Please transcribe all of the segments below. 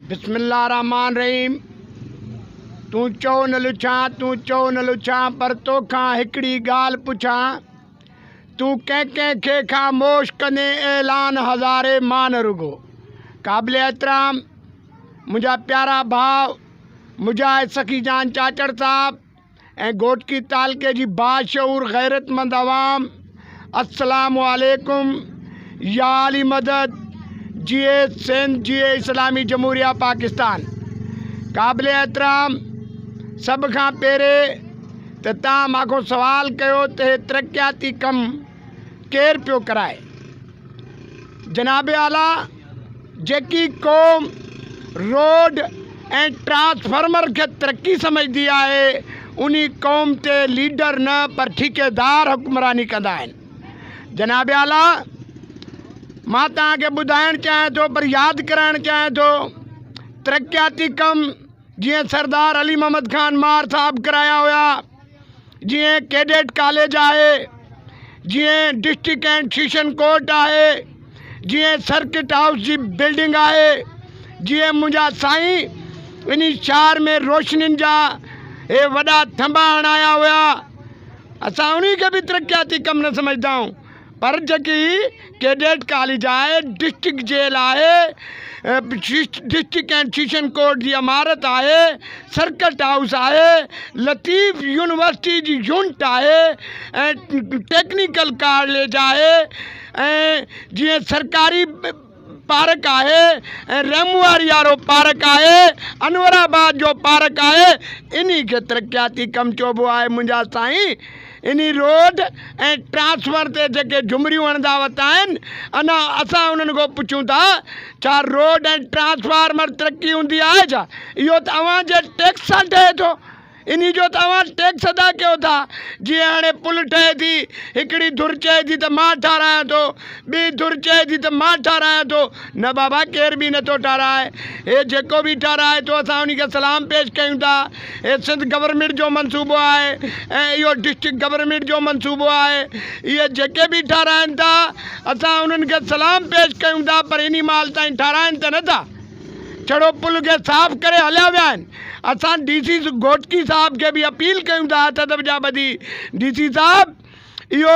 بسم الله الرحمٰن الرحيم تون چؤ نه لڇان تون چؤ نه لڇان پر توکان هڪڙي ڳالهه پڇان تون ڪنهن ڪنهن کي خاموش ڪندين اعلان هزاري مان رڳو قابل احترام منهنجا پيارا ڀاء مجاهد سخي جان چاچڙ صاحب ۽ گهوٽڪي تعلقي جي باشعور غيرتمند عوام السلام عليڪم يا علي مدد جي اي سنڌ جي اي اسلامي جمهوريه پاڪستان قابل احترام سڀ کان پهري ته توهان مان کان سوال ڪيو ته هي ترقياتي ڪم ڪير پيو ڪرائي جناب اعليٰ جيڪي قوم روڊ ۽ ٽرانسفارمر کي ترقي سمجهندي آهي انهي قوم تي ليڊر نه پر ٺيڪيدار حڪمراني ڪندا آهن جناب اعليٰ مان توهان کي ٻڌائڻ چاهيان ٿو پر ياد ڪرائڻ چاهيان ٿو ترقياتي ڪم جيئن سردار علي محمد خان مار صاحب ڪرايا هيا جيئن ڪيڊٽ ڪاليج آهي، جيئن ڊسٽرڪٽ اينڊ سيشن ڪورٽ آهي، جيئن سرڪٽ هائوس جي بلڊنگ آهي، جيئن منهنجا سائين انهي شهر ۾ روشنين جا اهي وڏا ٿنڀا هڻايا هيا، اسان انهي کي به ترقياتي ڪم نه سمجهدائون. پر جيڪي ڪيڊيٽ ڪاليج آهي، ڊسٽرڪٽ جيل آهي، ڊسٽرڪٽ اينڊ سيشن ڪورٽ جي عمارت آهي، سرڪٽ هائوس آهي، لطيف يونيورسٽي جي يونٽ آهي ۽ ٽيڪنيڪل ڪاليج آهي ۽ جيئن سرڪاري پارڪ آهي ۽ رحمواري وارو پارڪ آهي، انور آباد جو پارڪ آهي، انهي کي ترقياتي ڪم چئبو آهي منهنجا سائين، انهي روڊ ۽ ٽرانسفر تي جيڪي جهمريون هڻندا وتا آهن انا اسان انهن کان پڇون ٿا ڇا روڊ ۽ ٽرانسفارمر ترقي هوندي آهي ڇا؟ اهو ته اوهان جي ٽيڪس سان ٺهي ٿو. انهي جو ته اوهان ٽيڪس ادا ڪيو ٿا. جيئن هاڻي پل ٺهي ٿي، هڪڙي ڌر چئي ٿي ته مان ٺاراهيان ٿو، ٻي ڌر چئي ٿي ته مان ٺاراهيان ٿو، نه بابا ڪير به نٿو ٺاراهي، هي جيڪو به ٺاراهي ٿو اسان انهي کي سلام پيش ڪيون ٿا، هي سنڌ گورنمينٽ جو منصوبو آهي ۽ اهو ڊسٽرڪٽ گورنمينٽ جو منصوبو آهي، اهي جيڪي به ٺاراهين ٿا اسان انهن کي سلام پيش ڪيون ٿا پر انهي مهل تائين ٺاراهين ته نٿا. چڙو پل کي صاف ڪري هليا ويا آهن اسان ڊي سي گهوٽڪي صاحب کي به اپيل ڪيون ٿا هٿ ادب جا ٻڌي ڊي سي صاحب اهو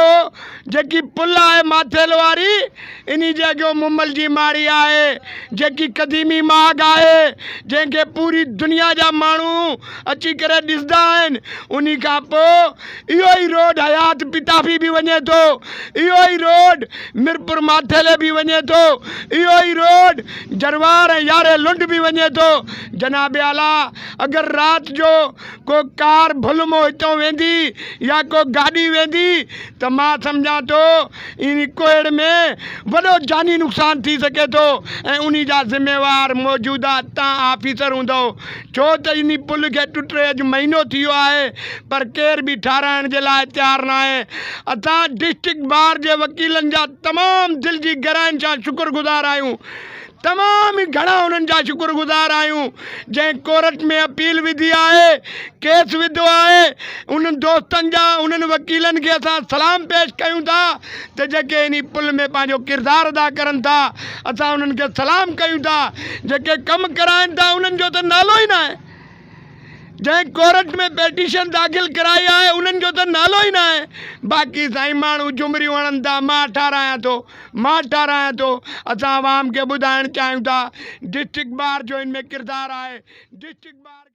جيڪي پل آهي ماٿيل واري انهي جي اڳيو مومل جي ماڙي آهي جيڪي قديمي ماڳ آهي جنهن کي پوري دنيا جا ماڻهو اچي ڪري ڏسندا آهن انهي کان پو اهو ئي روڊ حيات پتافي به وڃي ٿو، اهو ئي روڊ ميرپور ماٿيلي به وڃي ٿو، اهو ئي روڊ جروار ۽ يارهين لنڊ به وڃي ٿو. جناب اعليٰ اگر رات جو ڪو ڪار ڀل مون هتون ويندي يا ڪو گاڏي ويندي ته مان سمجهان ٿو انهي ڪوهيڙ ۾ وڏو جاني نقصان ٿي سگهي ٿو ۽ انهي جا ذميوار موجوده تان آفيسر هوندؤ. ڇو ته انهي پل کي ٽٽي اڄ مهينو ٿي ويو آهي پر ڪير به ٺاهرائڻ جي لاء تيار ناهي. اسان ڊسٽرڪٽ بار جي وڪيلن جا تمام دل جي گهرائين سان شڪرگذار آهيون. تمام ئي گهڻا انهن جا شڪرگذار آهيون جنهن ڪورٽ ۾ اپيل وڌي آهي، ڪيس وڌو آهي. انهن دوستن جا، انهن وڪيلن کي اسان سلام پيش ڪيون ٿا ته جيڪي انهي پل ۾ پنهنجو ڪردار ادا ڪرن ٿا اسان انهن کي سلام ڪيون ٿا جيڪي ڪم ڪرائن ٿا انهن جو ته نالو ئي ناهي جنهن ڪورٽ ۾ پيٽيشن داخل ڪرائي آهي انهن جو ته نالو ئي ناهي باقي سائين ماڻهو جهمريون هڻن ٿا مان ٺاراهيان ٿو مان ٺاراهيان ٿو اسان عوام کي ٻڌائڻ چاهيون ٿا ڊسٽرڪٽ بار جو ان ۾ ڪردار آهي ڊسٽرڪٽ بار